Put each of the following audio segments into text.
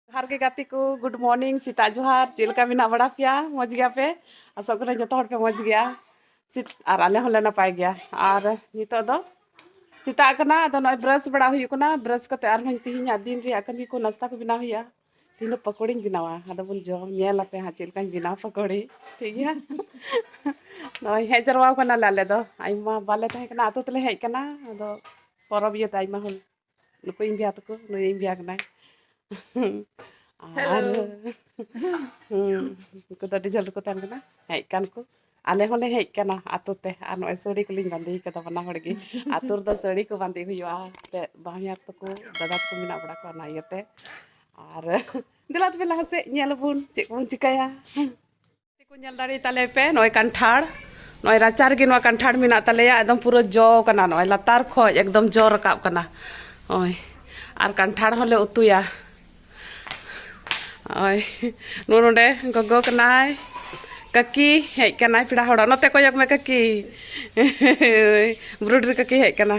ᱡᱚᱦᱟᱨ ᱜᱮ ᱜᱟᱛᱮ ᱠᱚ ᱜᱩᱰ ᱢᱚᱨᱱᱤᱝ ᱥᱮᱛᱟᱜ ᱡᱚᱦᱟᱨ ᱪᱮᱫ ᱞᱮᱠᱟ ᱢᱮᱱᱟᱜ ᱵᱟᱲᱟ ᱯᱮᱭᱟ ᱢᱚᱡᱽ ᱜᱮᱭᱟ ᱯᱮ ᱟᱥᱚᱜ ᱠᱟᱹᱱᱟᱹᱧ ᱡᱚᱛᱚ ᱦᱚᱲ ᱯᱮ ᱢᱚᱡᱽ ᱜᱮᱭᱟ ᱥᱤᱛ ᱟᱨ ᱟᱞᱮ ᱦᱚᱸᱞᱮ ᱱᱟᱯᱟᱭ ᱜᱮᱭᱟ ᱟᱨ ᱱᱤᱛᱚᱜ ᱫᱚ ᱥᱮᱛᱟᱜ ᱠᱟᱱᱟ ᱟᱫᱚ ᱱᱚᱜᱼᱚᱭ ᱵᱨᱟᱥ ᱵᱟᱲᱟ ᱦᱩᱭᱩᱜ ᱠᱟᱱᱟ ᱵᱨᱟᱥ ᱠᱟᱛᱮ ᱟᱨᱦᱚᱸ ᱛᱮᱦᱮᱧᱟᱜ ᱫᱤᱱ ᱨᱮᱭᱟᱜ ᱠᱟᱹᱢᱤ ᱠᱚ ᱱᱟᱥᱛᱟ ᱠᱚ ᱵᱮᱱᱟᱣ ᱦᱩᱭᱩᱜᱼᱟ ᱛᱮᱦᱮᱧ ᱫᱚ ᱯᱟᱠᱚᱲᱤᱧ ᱵᱮᱱᱟᱣᱟ ᱟᱫᱚ ᱵᱚᱱ ᱡᱚᱢ ᱧᱮᱞ ᱟᱯᱮ ᱦᱟᱸᱜ ᱪᱮᱫ ᱞᱮᱠᱟᱧ ᱵᱮᱱᱟᱣ ᱯᱟᱠᱚᱲᱤ ᱴᱷᱤᱠ ᱜᱮᱭᱟ ᱱᱚᱜᱼᱚᱭ ᱦᱮᱡ ᱡᱟᱨᱣᱟ ᱠᱟᱱᱟᱞᱮ ᱟᱞᱮ ᱫᱚ ᱟᱭᱢᱟ ᱵᱟᱞᱮ ᱛᱟᱦᱮᱸ ᱠᱟᱱᱟ ᱟᱛᱳ ᱛᱮᱞᱮ ᱦᱮᱡ ᱠᱟᱱᱟ ᱟᱫᱚ ᱯᱚᱨᱚᱵᱽ ᱤᱭᱟᱹᱛᱮ ᱟᱭᱢᱟ ᱦᱚᱲ ᱱᱩᱠᱩ ᱤᱧ ᱵᱷᱮᱭᱟ ᱛᱟᱠᱚ ᱱᱩᱭ ᱤᱧ ᱵᱷᱮᱭᱟ ᱠᱟᱱᱟᱭ ᱟᱨ ᱩᱱᱠᱩ ᱫᱚ ᱟᱹᱰᱤ ᱡᱷᱟᱹᱞ ᱨᱮᱠᱚ ᱛᱟᱦᱮᱱ ᱠᱟᱱᱟ ᱦᱮᱡ ᱠᱟᱱ ᱠᱚ ᱟᱞᱮ ᱦᱚᱸᱞᱮ ᱦᱮᱡ ᱠᱟᱱᱟ ᱟᱛᱳ ᱛᱮ ᱟᱨ ᱱᱚᱜᱼᱚᱭ ᱥᱟᱹᱲᱤ ᱠᱚᱞᱤᱧ ᱵᱟᱸᱫᱮ ᱠᱟᱫᱟ ᱵᱟᱱᱟ ᱦᱚᱲ ᱜᱮ ᱟᱛᱳ ᱨᱮᱫᱚ ᱥᱟᱹᱲᱤ ᱠᱚ ᱵᱟᱸᱫᱮ ᱦᱩᱭᱩᱜᱼᱟ ᱮᱱᱛᱮᱫ ᱵᱟᱦᱧᱟᱨ ᱛᱟᱠᱚ ᱫᱟᱫᱟ ᱛᱟᱠᱚ ᱢᱮᱱᱟᱜ ᱵᱟᱲᱟ ᱠᱚᱣᱟ ᱚᱱᱟ ᱤᱭᱟᱹᱛᱮ ᱟᱨ ᱫᱮᱞᱟ ᱛᱚᱵᱮ ᱞᱟᱦᱟ ᱥᱮᱫ ᱧᱮᱞ ᱟᱵᱚᱱ ᱪᱮᱫ ᱠᱚᱵᱚᱱ ᱪᱤᱠᱟᱹᱭᱟ ᱠᱚ ᱧᱮᱞ ᱫᱟᱲᱮ ᱛᱟᱞᱮ ᱯᱮ ᱱᱚᱜᱼᱚᱭ ᱠᱟᱱᱴᱷᱟᱲ ᱱᱚᱜᱼᱚᱭ ᱨᱟᱪᱟ ᱨᱮᱜᱮ ᱱᱚᱣᱟ ᱠᱟᱱᱴᱷᱟᱲ ᱢᱮᱱᱟᱜ ᱛᱟᱞᱮᱭᱟ ᱮᱠᱫᱚᱢ ᱯᱩᱨᱟᱹ ᱡᱚ ᱠᱟᱱᱟ ᱱᱚᱜᱼᱚᱭ ᱞᱟᱛᱟᱨ ᱠᱷᱚᱡ ᱮᱠᱫᱚᱢ ᱡᱚ ᱨᱟᱠᱟᱵ ᱠᱟᱱᱟ ᱱᱚᱜᱼᱚᱭ ᱟᱨ ᱠᱟᱱᱴᱷᱟᱲ ᱦᱚᱸᱞᱮ ᱩᱛᱩᱭᱟ ᱱᱚᱜᱼᱚᱭ ᱱᱚᱜᱼᱚ ᱱᱚᱰᱮ ᱜᱚᱜᱚ ᱠᱟᱱᱟᱭ ᱠᱟᱹᱠᱤ ᱦᱮᱡ ᱠᱟᱱᱟᱭ ᱯᱮᱲᱟ ᱦᱚᱲᱚᱜ ᱱᱚᱛᱮ ᱠᱚᱭᱚᱜ ᱢᱮ ᱠᱟᱹᱠᱤ ᱵᱨᱩᱰᱨᱤ ᱠᱟᱹᱠᱤ ᱦᱮᱡ ᱠᱟᱱᱟ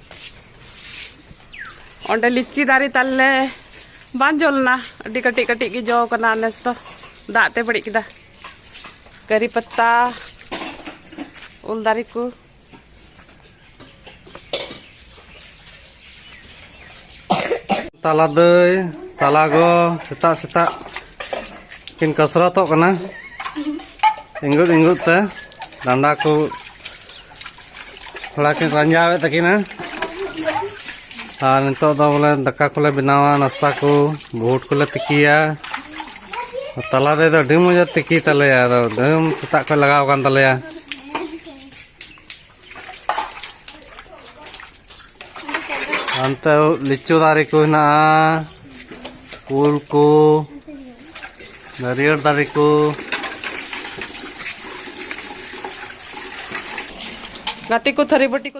ᱚᱸᱰᱮ ᱞᱤᱪᱤ ᱫᱟᱨᱮ ᱛᱟᱞᱮ ᱵᱟᱝ ᱡᱚ ᱞᱮᱱᱟ ᱟᱹᱰᱤ ᱠᱟᱹᱴᱤᱡ ᱠᱟᱹᱴᱤᱡ ᱜᱮ ᱡᱚ ᱠᱟᱱᱟ ᱱᱮᱥ ᱫᱚ ᱫᱟᱜ ᱛᱮ ᱵᱟᱹᱲᱤᱡ ᱠᱮᱫᱟ ᱠᱟᱹᱨᱤ ᱯᱟᱛᱟ ᱩᱞ ᱫᱟᱨᱮ ᱠᱚ ᱛᱟᱞᱟ ᱫᱟᱹᱭ ᱛᱟᱞᱟ ᱜᱚ ᱥᱮᱛᱟᱜ ᱥᱮᱛᱟᱜ ᱠᱤᱱ ᱠᱟᱥᱨᱟᱛᱚᱜ ᱠᱟᱱᱟ ᱤᱝᱜᱩᱫ ᱤᱝᱜᱩᱫ ᱛᱮ ᱰᱟᱸᱰᱟ ᱠᱚ ᱛᱷᱚᱲᱟ ᱠᱤᱱ ᱨᱟᱸᱡᱟᱣᱮᱫ ᱛᱟᱹᱠᱤᱱᱟ ᱟᱨ ᱱᱤᱛᱚᱜ ᱫᱚ ᱵᱚᱞᱮ ᱫᱟᱠᱟ ᱠᱚᱞᱮ ᱵᱮᱱᱟᱣᱟ ᱱᱟᱥᱛᱟ ᱠᱚ ᱵᱷᱩᱴ ᱠᱚᱞᱮ ᱛᱤᱠᱤᱭᱟ ᱛᱟᱞᱟ ᱨᱮᱫᱚ ᱟᱹᱰᱤ ᱢᱚᱡᱟ ᱛᱤᱠᱤ ᱛᱟᱞᱮᱭᱟ ᱟᱫᱚ ᱫᱟᱹᱢ ᱥᱮᱛᱟᱜ ᱠᱷᱚᱱ ᱞᱟᱜᱟᱣ ᱟᱠᱟᱱ ᱛᱟᱞᱮᱭᱟ ᱦᱟᱱᱛᱮ ᱞᱤᱪᱩ ᱫᱟᱨᱮ ᱠᱚ ᱦᱮᱱᱟᱜᱼᱟ ᱩᱞ ᱠᱚ ᱱᱟᱹᱨᱤᱭᱟᱹᱲ ᱫᱟᱨᱮ ᱠᱚ ᱜᱟᱛᱮ ᱠᱚ ᱛᱷᱟᱹᱨᱤ ᱵᱟᱹᱴᱤ ᱠᱚ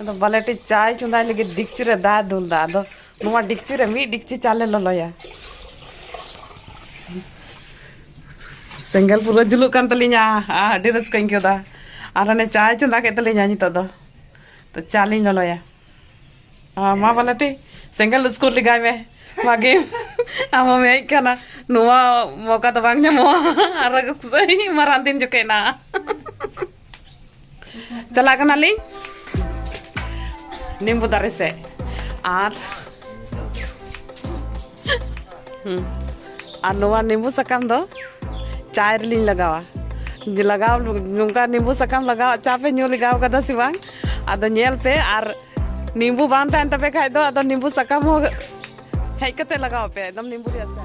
ᱟᱫᱚ ᱵᱟᱞᱮᱴᱤ ᱪᱟᱭ ᱪᱚᱸᱫᱟᱭ ᱞᱟᱹᱜᱤᱫ ᱰᱤᱠᱪᱤ ᱨᱮ ᱫᱟᱜ ᱫᱩᱞ ᱫᱟ ᱟᱫᱚ ᱱᱚᱣᱟ ᱰᱤᱠᱪᱤ ᱨᱮ ᱢᱤᱫ ᱰᱤᱠᱪᱤ ᱪᱟᱞᱮ ᱞᱚᱞᱚᱭᱟ ᱥᱮᱸᱜᱮᱞ ᱯᱩᱨᱟᱹ ᱡᱩᱞᱩᱜ ᱠᱟᱱ ᱛᱟᱹᱞᱤᱧᱟ ᱟᱹᱰᱤ ᱨᱟᱹᱥᱠᱟᱹᱧ ᱟᱹᱭᱠᱟᱹᱣ ᱫᱟ ᱟᱨ ᱦᱟᱱᱮ ᱪᱟᱭ ᱪᱚᱸᱫᱟ ᱠᱮᱫ ᱛᱟᱹᱞᱤᱧᱟ ᱱᱤᱛᱚᱜ ᱫᱚ ᱛᱚ ᱪᱟ ᱞᱤᱧ ᱞᱚᱞᱚᱭᱟ ᱢᱟ ᱵᱟᱞᱮᱴᱤ ᱥᱮᱸᱜᱮᱞ ᱩᱥᱠᱩᱨ ᱞᱮᱜᱟᱭ ᱢᱮ ᱵᱷᱟᱜᱮ ᱟᱢ ᱦᱚᱸᱢ ᱦᱮᱡ ᱠᱟᱱᱟ ᱱᱚᱣᱟ ᱢᱚᱠᱟ ᱫᱚ ᱵᱟᱝ ᱧᱟᱢᱚᱜᱼᱟ ᱟᱨᱚ ᱢᱟᱨᱟᱝ ᱫᱤᱱ ᱡᱚᱠᱷᱮᱡ ᱱᱟ ᱪᱟᱞᱟᱜ ᱠᱟᱱᱟᱞᱤᱧ ᱱᱤᱢᱵᱩ ᱫᱟᱨᱮ ᱥᱮᱫ ᱟᱨ ᱟᱨ ᱱᱚᱣᱟ ᱱᱤᱢᱵᱩ ᱥᱟᱠᱟᱢ ᱫᱚ ᱪᱟᱭ ᱨᱮᱞᱤᱧ ᱞᱟᱜᱟᱣᱟ ᱞᱟᱜᱟᱣ ᱱᱚᱝᱠᱟ ᱱᱤᱢᱵᱩ ᱥᱟᱠᱟᱢ ᱞᱟᱜᱟᱣ ᱪᱟ ᱯᱮ ᱧᱩ ᱞᱟᱜᱟᱣ ᱠᱟᱫᱟ ᱥᱮ ᱵᱟᱝ ᱟᱫᱚ ᱧᱮᱞ ᱯᱮ ᱟᱨ ᱱᱤᱢᱵᱩ ᱵᱟᱝ ᱛᱟᱦᱮᱱ ᱛᱟᱯᱮ ᱠᱷᱟᱡ ᱫᱚ ᱟᱫᱚ ᱱᱤᱢᱵᱩ ᱥᱟᱠᱟᱢ ᱦᱚᱸ ᱦᱮᱡ ᱠᱟᱛᱮ ᱞᱟᱜᱟᱣ ᱯᱮ ᱮᱠᱫᱚᱢ ᱱᱤᱢᱵᱩ ᱨᱮᱭᱟᱜ ᱪᱟ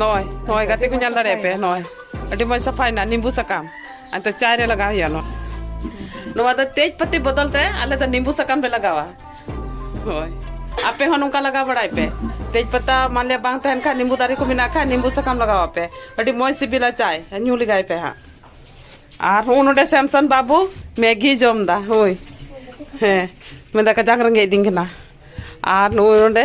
ᱱᱚᱜᱼᱚᱭ ᱱᱚᱜᱼᱚᱭ ᱜᱟᱛᱮ ᱠᱚ ᱧᱮᱞ ᱫᱟᱲᱮᱭᱟᱜ ᱯᱮ ᱱᱚᱜᱼᱚᱭ ᱟᱹᱰᱤ ᱢᱚᱡᱽ ᱥᱟᱯᱷᱟᱭᱮᱱᱟ ᱱᱤᱢᱵᱩ ᱥᱟᱠᱟᱢ ᱟᱫᱚ ᱪᱟᱭ ᱨᱮ ᱞᱟᱜᱟᱣ ᱦᱩᱭᱩᱜᱼᱟ ᱱᱚᱣᱟ ᱱᱚᱣᱟ ᱫᱚ ᱛᱮᱡᱽ ᱯᱟᱹᱛᱤ ᱵᱚᱫᱚᱞ ᱛᱮ ᱟᱞᱮ ᱫᱚ ᱱᱤᱢᱵᱩ ᱥᱟᱠᱟᱢ ᱞᱮ ᱞᱟᱜᱟᱣᱟ ᱦᱳᱭ ᱟᱯᱮ ᱦᱚᱸ ᱱᱚᱝᱠᱟ ᱞᱟᱜᱟᱣ ᱵᱟᱲᱟᱭ ᱯᱮ ᱛᱮᱡᱽ ᱯᱟᱛᱟ ᱢᱟᱱᱮ ᱵᱟᱝ ᱛᱟᱦᱮᱱ ᱠᱷᱟᱱ ᱱᱤᱢᱵᱩ ᱫᱟᱨᱮ ᱠᱚ ᱢᱮᱱᱟᱜ ᱠᱷᱟᱱ ᱱᱤᱢᱵᱩ ᱥᱟᱠᱟᱢ ᱞᱟᱜᱟᱣ ᱟᱯᱮ ᱟᱹᱰᱤ ᱢᱚᱡᱽ ᱥᱤᱵᱤᱞᱟ ᱪᱟᱭ ᱧᱩ ᱞᱮᱜᱟᱭ ᱯᱮ ᱦᱟᱸᱜ ᱟᱨ ᱦᱚᱸ ᱱᱚᱰᱮ ᱥᱮᱢᱥᱚᱱ ᱵᱟᱹᱵᱩ ᱢᱮᱜᱤ ᱡᱚᱢ ᱫᱟ ᱦᱳᱭ ᱦᱮᱸ ᱢᱮᱱᱫᱟ ᱠᱟᱡᱟᱠ ᱨᱮᱸᱜᱮᱡ ᱫᱤᱧ ᱠᱟᱱᱟ ᱟᱨ ᱱᱚᱜᱼᱚᱭ ᱱᱚᱰᱮ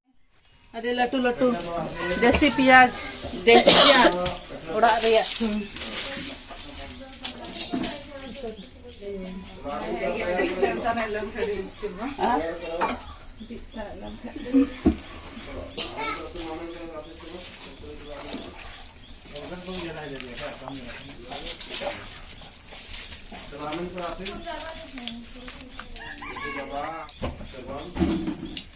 ᱟᱹᱰᱤ ᱞᱟᱹᱴᱩ ᱞᱟᱹᱴᱩ ᱫᱮᱥᱤ ᱯᱮᱸᱭᱟᱡᱽ ᱫᱮᱥᱤ ᱯᱮᱸᱭᱟᱡᱽ ᱚᱲᱟᱜ ᱨᱮᱭᱟᱜ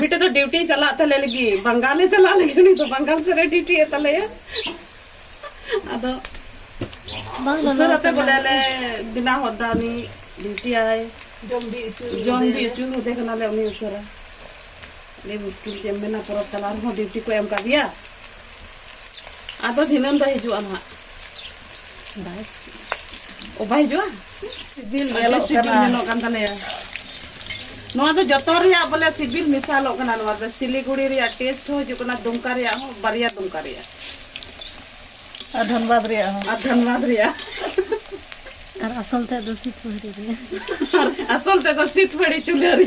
ᱢᱤᱫᱴᱮᱡ ᱫᱚ ᱰᱤᱭᱩᱴᱤ ᱪᱟᱞᱟᱜ ᱛᱟᱞᱮ ᱞᱟᱹᱜᱤᱫ ᱵᱟᱝᱜᱟᱞᱮ ᱪᱟᱞᱟᱜ ᱞᱟᱹᱜᱤᱫ ᱩᱱᱤ ᱫᱚ ᱵᱟᱝᱜᱟᱞ ᱥᱮᱫ ᱨᱮ ᱰᱤᱭᱩᱴᱤ ᱮᱫ ᱛᱟᱞᱮᱭᱟ ᱟᱫᱚ ᱩᱥᱟᱹᱨᱟᱛᱮ ᱵᱚᱞᱮ ᱞᱮ ᱵᱮᱱᱟᱣ ᱦᱚᱫ ᱫᱟ ᱩᱱᱤ ᱰᱤᱭᱩᱴᱤᱭᱟᱭ ᱡᱚᱢ ᱵᱤ ᱦᱚᱪᱚ ᱡᱚᱢ ᱵᱤ ᱦᱚᱪᱚ ᱦᱚᱫᱮ ᱠᱟᱱᱟᱞᱮ ᱩᱱᱤ ᱩᱥᱟᱹᱨᱟ ᱟᱹᱰᱤ ᱢᱩᱥᱠᱤᱞ ᱪᱮᱫ ᱮᱢ ᱢᱮᱱᱟ ᱯᱚᱨᱚᱵᱽ ᱛᱟᱞᱟ ᱨᱮᱦᱚᱸ ᱰᱤᱭᱩᱴᱤ ᱠᱚ ᱮᱢ ᱠᱟᱫᱮᱭᱟ ᱟᱫᱚ ᱫᱷᱤᱱᱟᱹᱱ ᱫᱚ ᱦᱤᱡᱩᱜᱼᱟ ᱱᱟᱦᱟᱜ ᱚ ᱵᱟᱭ ᱦᱤᱡᱩᱜᱼᱟ ᱥᱤᱵᱤᱞ ᱧᱮᱞᱚᱜ ᱥᱤᱵᱤᱞ ᱧᱮᱞᱚᱜ ᱠᱟᱱ ᱛᱟᱞᱮᱭᱟ ᱱᱚᱣᱟ ᱫᱚ ᱡᱚᱛᱚ ᱨᱮᱭᱟᱜ ᱵᱚᱞᱮ ᱥᱤᱵᱤᱞ ᱢᱮᱥᱟᱞᱚᱜ ᱠᱟᱱᱟ ᱱᱚᱣᱟ ᱫᱚ ᱥᱤᱞᱤᱜᱩᱲᱤ ᱨᱮᱭᱟᱜ ᱴᱮᱥᱴ ᱦᱚᱸ ᱦᱤᱡᱩᱜ ᱠᱟᱱᱟ ᱫᱩᱢᱠᱟ ᱨᱮᱭᱟᱜ ᱦᱚᱸ ᱵᱟᱨᱭᱟ ᱫᱩᱢᱠᱟ ᱨᱮᱭᱟᱜ ᱟᱨ ᱫᱷᱟᱱᱵᱟᱫᱽ ᱨᱮᱭᱟᱜ ᱦᱚᱸ ᱟᱨ ᱫᱷᱟᱱᱵᱟᱫᱽ ᱨᱮᱭᱟᱜ ᱟᱨ ᱟᱥᱚᱞ ᱛᱮ ᱫᱚ ᱥᱤᱛᱯᱟᱹᱲᱤ ᱨᱮ ᱟᱨ ᱟᱥᱚᱞ ᱛᱮ ᱫᱚ ᱥᱤᱛᱯᱟᱹᱲᱤ ᱪᱩᱞᱦᱟᱹ ᱨᱮ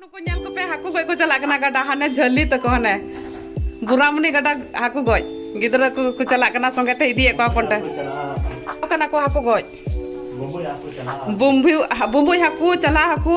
ᱱᱩᱠᱩ ᱧᱮᱞ ᱠᱚᱯᱮ ᱦᱟᱹᱠᱩ ᱜᱚᱡ ᱠᱚ ᱪᱟᱞᱟᱜ ᱠᱟᱱᱟ ᱜᱟᱰᱟ ᱦᱟᱱᱮ ᱡᱷᱟᱹᱞᱤ ᱛᱟᱠᱚ ᱦᱟᱱᱮ ᱵᱩᱨᱟᱢᱩᱱᱤ ᱜᱟᱰᱟ ᱦᱟᱹᱠᱩ ᱜᱚᱡ ᱜᱤᱫᱽᱨᱟᱹ ᱠᱚ ᱠᱚ ᱪᱟᱞᱟᱜ ᱠᱟᱱᱟ ᱥᱚᱸᱜᱮ ᱛᱮ ᱤᱫᱤᱭᱮᱫ ᱠᱚᱣᱟ ᱦᱚᱯᱚᱱ ᱴᱮ ᱠᱟᱱᱟ ᱠᱚ ᱦᱟᱹᱠᱩ ᱜᱚᱡ ᱵᱩᱢᱵᱩᱭ ᱵᱩᱢᱵᱩᱭ ᱦᱟᱹᱠᱩ ᱪᱟᱞᱟᱜ ᱦᱟᱹᱠᱩ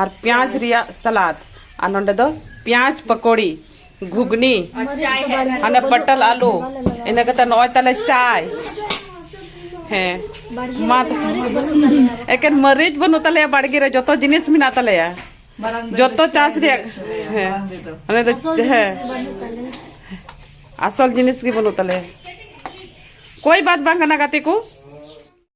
ᱟᱨ ᱯᱮᱸᱭᱟᱡᱽ ᱨᱮᱭᱟᱜ ᱥᱟᱞᱟᱫ ᱟᱨ ᱱᱚᱰᱮ ᱫᱚ ᱯᱮᱸᱭᱟᱡᱽ ᱯᱟᱠᱚᱲᱤ ᱜᱷᱩᱜᱽᱱᱤ ᱦᱟᱱᱮ ᱯᱟᱴᱟᱞ ᱟᱞᱩ ᱤᱱᱟᱹ ᱠᱟᱛᱮ ᱱᱚᱜᱼᱚᱭ ᱛᱟᱞᱮ ᱪᱟᱭ ᱦᱮᱸ ᱢᱟ ᱮᱠᱮᱱ ᱢᱟᱹᱨᱤᱪ ᱵᱟᱹᱱᱩᱜ ᱛᱟᱞᱮᱭᱟ ᱵᱟᱲᱜᱮ ᱨᱮ ᱡᱚᱛᱚ ᱡᱤᱱᱤᱥ ᱢᱮᱱᱟᱜ ᱛᱟᱞᱮᱭᱟ ᱡᱚᱛᱚ ᱪᱟᱥ ᱨᱮᱭᱟᱜ ᱦᱮᱸ ᱚᱱᱮ ᱫᱚ ᱦᱮᱸ ᱟᱥᱚᱞ ᱡᱤᱱᱤᱥ ᱜᱮ ᱵᱟᱹᱱᱩᱜ ᱛᱟᱞᱮᱭᱟ ᱠᱚᱭ ᱵᱟᱫ ᱵᱟᱝ ᱠᱟᱱᱟ ᱜᱟᱛᱮ ᱠᱚ